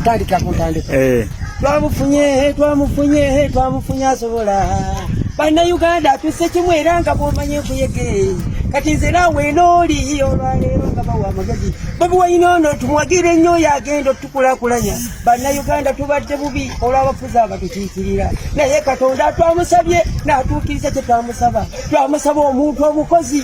kutandika kutandika eh twamufunye he twamufunye he twamufunye asobola bannayuganda tuse kimu era nga bwomanye nkuyege kati nze naawe enooli olwaleero nga bawa amagezi bobi wayina ono tumwagire nnyo oyo agenda otukulakulanya bannayuganda tubadde bubi olw'abafuzi abatukiikirira naye katonda twamusabye n'atuukiriza kye twamusaba twamusaba omuntu omukozi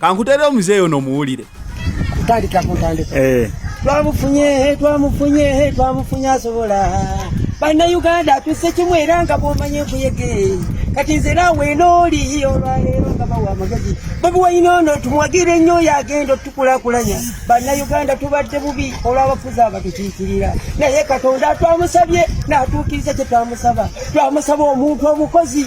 kankutere omuzeeyi ono omuwulire kutandika kuntandika eh. twamufunye twamufunye twamufunye asobola bannayuganda tuse kimu era nga bwomanye enkuyege kati nze naawe nooli olwaleero nga bawa amagezi bobi wayina ono tumwagire nnyo oyo agenda otukulakulanya bannayuganda tubadde bubi olw'abafuzi abatukiikirira naye katonda twamusabye n'atuukiriza kye twamusaba twamusaba omuntu omukozi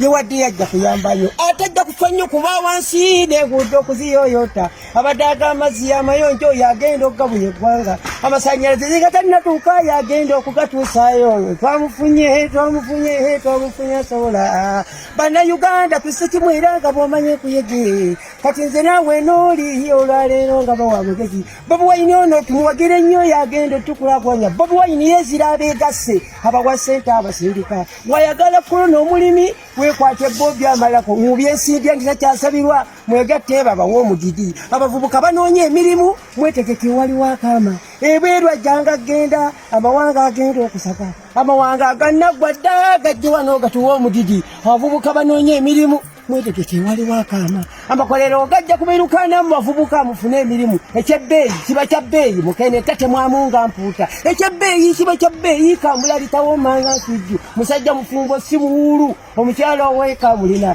ye wadde yajja kuyambayo ate ajja kufa nnyo kuba wansi neguudde okuziyoyota abadde aga amazzi yamayonjo oyo agenda okugabuya eggwanga amasanyalaze zigatanatuuka yo agenda okugatuusayo oyo twamufunye twamufunye twamufunye asobola bannayuganda tusi kimu era nga bwomanye kuyege kati nze naawe nooli olwaleero nga bawa mugezi bobi wayini ono tumuwagire nnyo yagenda otukulagwanya bobi wayini yezira abeegasse abawa sente abasindika wayagala kulo n'omulimi wekwate bo byamalako mubyesiibya nti takyasabirwa mwegatte babawa omudidi abavubuka banoonya emirimu mwetegeke waliwo akaama ebweru ajjanga genda amawanga agenda okusaka amawanga aganaggwa dda gajje wano gatuwa omudidi abavubuka banoonya emirimu mwetegeke waliwo akaama amakolero ogajja kubiruka namu bavubuka mufune emirimu ekyebbeeyi kiba kya bbeeyi mukene tatemwamunga mpuuta ekyebbeeyi kiba kya bbeeyi kambula litawomanga nsujju musajja mufumbo si muwuulu omukyalo oweeka mulina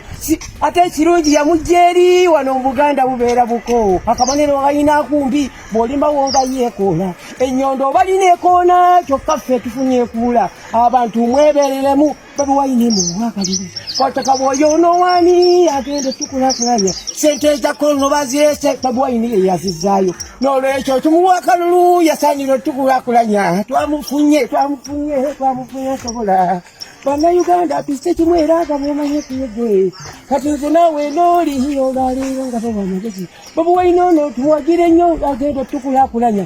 ate ekirungi yamujja eri wano mu buganda bubeera bukoowo akabonero galina kumbi bw'olimawo nga yeekoola ennyondo obalina ekoona kyokka ffe tufunye ekuula abantu mwebereremu Bobi Wine mu bwakaliri kwataka bwoyo onowani agenda tukulakulanya sente zakono bazirese Bobi Wine ye yazizaayo n'olwekyo tumuwa akalulu yasaanira otukulakulanya twamufunye twamufunye twamufunye asobola bannayuganda tuzze kimu era nga bwemanye kuyege kati nze naawe nooli olwaleero nga bawa amagezi Bobi Wine ono tuwagire nnyo agenda otukulakulanya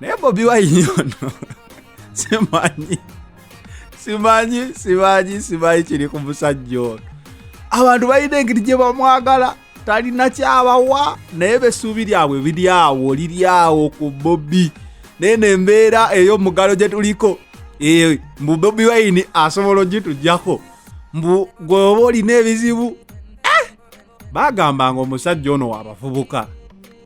naye bobi wayini ono simanyi simanyi simanyi simanyi kiri ku musajja ono abantu balina engeri gye bamwagala talina kyabawa naye besuubi lyabwe biri awo liri awo ku bobi naye nembeera ey'omugalo gye tuliko eh, mbu bobi wayini asobola ogitujjako mbu gweoba olina ebizibu baagambanga omusajja ono wabavubuka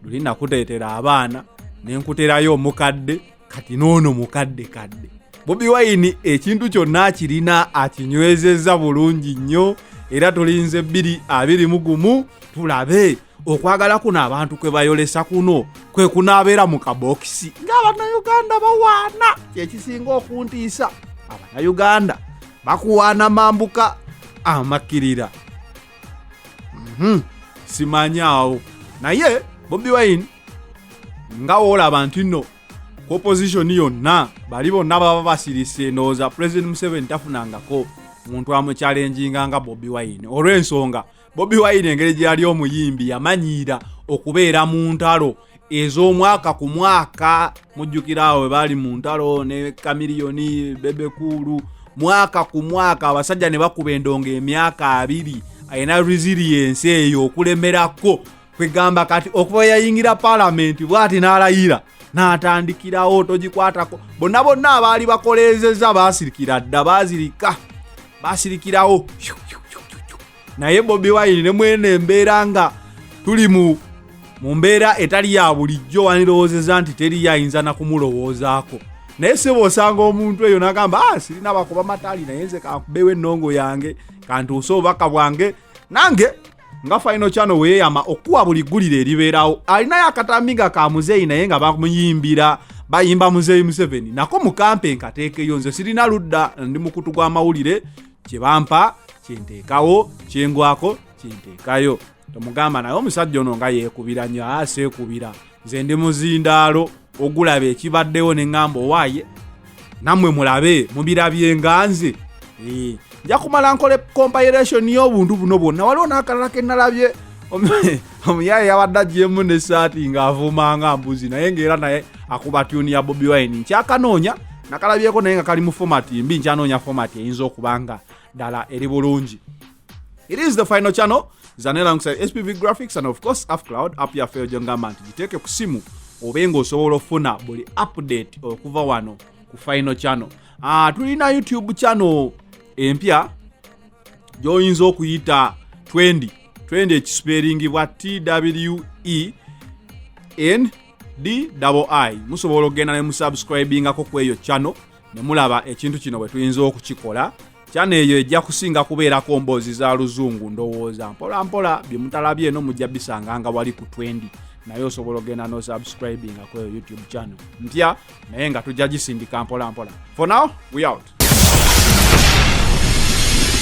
luli nakuteetera abaana ne nkuterayo omukadde kati n'ono mukadde kadde bobi wayini ekintu kyonna akirina akinywezezza bulungi nnyo era tulinze bbiri abiri mu gumu tulabe okwagala kuno abantu kwe bayolesa kuno kwe kunaabeera mu kabokisi ng'abannayuganda bawaana kyekisinga okuntiisa abannayuganda bakuwaana mambuka amakkirira mm-hmm. simanyaawo naye bobi wine nga woolaba nti nno ku opposition yonna bali bonna baba basirise ndowooza president museveni tafunangako muntu amukyalenjinga nga bobi wine olw'ensonga bobi wine engeri gyeyali omuyimbi yamanyiira okubeera mu ntalo ez'omwaka ku mwaka mujjukira awo we baali mu ntalo ne kamiliyoni bebekuulu mwaka ku mwaka abasajja ne bakuba endongo emyaka abiri alina resiliensi eyo okulemerako kwegamba kati okuva yayingira palamenti bwati n'alayira n'atandikirawo togikwatako bonna bonna abaali bakoleezeza baasirikira dda baazirika baasirikirawo naye bobi wine ne mwene embeera nga tuli mu mu mbeera etali ya bulijjo wandirowoozeza nti teriyo ayinza na kumulowoozaako naye sebo osanga omuntu eyo nagamba ah, sirina bakuba matali naye nze kankubewo ennongo yange kantuuse obubaka bwange nange nga faino kyano weyeyama okuwa buli ggulira eribeerawo alinayo akatambi nga ka muzeeyi naye nga bamuyimbira bayimba muzeeyi museveni nako mukampe nkateekeyo nze sirina ludda ndi mukutu gw'amawulire kye bampa kye nteekawo kye ngwako kye nteekayo tomugamba naye omusajja ono nga yeekubira nnyo aseekubira nze ndi muzindaalo ogulaba ekibaddewo ne ŋŋamba owaaye nammwe mulabe mubirabye nga nze nja kumala nkole compayiration y'obuntu buno bwonna waliwo n'akalala ke nnalabye omuyaye yabadde agyemu nesaati ng'avuuma nga mbuzi naye ng'era naye akuba tyuni ya bobi wine nkyakanoonya nakalabyeko naye nga kali mu fomati mbi nkyanoonya fomati eyinza okuba nga ddala eri bulungi it is the final channel zanelangside spv graphics and of course afcloud app yaffe yo gyongamba nti giteeke ku simu obe ng'osobola okufuna buli update okuva wano ku final channel uh, tulina youtube channel empya gyoyinza okuyita 20 twende ekisipeeringibwa twe n di musobola okugenda ne musubscribingako ku eyo channel ne mulaba ekintu kino bwe tuyinza okukikola kyano eyo ejja kusinga kubeerako mboozi za luzungu ndowooza mpola mpola bye mutalabye eno mujja bisanga nga wali ku twendi naye osobola okugenda nosubscribinga ku eyo youtube channel mpya naye nga tujja gisindika mpola mpola for now we out